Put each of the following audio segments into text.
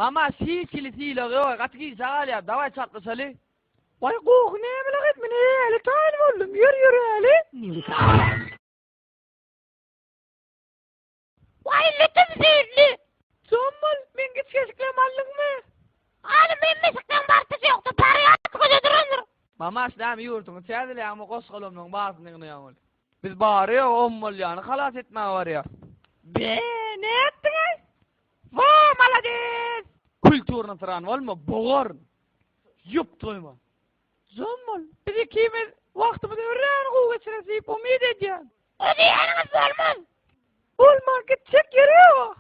Mama sil kili sil ogy oý gaty gijä galýar daway çatlyşaly. Way goh nämeler et men äli taýyn boldum ýör ýör äli. Waý lütüm zehirli. Jon bol men giç keşiklem aldyňmy. Aly men meşikden bartyş ýokdy parýat göze durandyr. Mama aş näme ýurduňy täzeleýäňmi goşgalamlaň baryny ýygnaýaň welin. Biz bary-ýogy on bolýany halas etmäge barýarys. Be, nätdiňiz? Wo, malades! Kulturny syran bolma, bogaryn. Ýup, toýma. Jon bol, biz ikimiz wagtymyzy örän gowy geçireris diýip umyt edýän. O diýýäniňiz bolmaz. Bolmaz, gitjek ýeri ýok.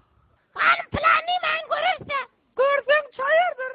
Hanym, plan diýmäň, göreris-dä. Görseň, çaýardyr.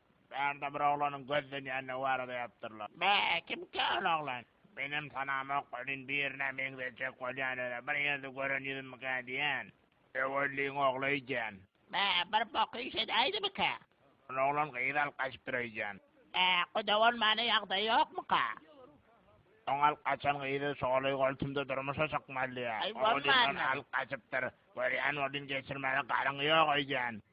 Bärde bir oglanyň gözlenýänligi barada ýazypdyrlar. Bä, kimkä ol oglan? Menem tanamok welin birine meňzejek bolýan öle bir ýerde gören ýüzümmikä diýýän. Öwelliň ogly öýdýän. Bä, bir bok iş edäýdimikä? Ol oglan gyz alyp gaçypdyr öýdýän. Bä, guda bolmana ýagdaýy ýokmuka? Soň alyp gaçan gyzy Şoly goltumda durmuşa çykmaly diýýär. Oglundan alyp gaçypdyr. Görýän welin geçirmäne galyňy ýok öýdýän.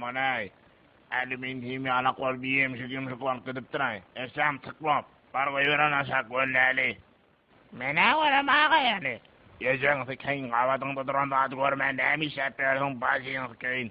Manaý, Alimin himýalak bolup ýemşik-ýumşuk bolup gidipdir-aý. Eşşäm tyk bop. Bar goýber ony aşak, gölleli. Men-ä görem aga-ýany. Ejeňsi keýin gabadyňda duran zady görmän näme işläp ýörsüň, bajyňsy keýin.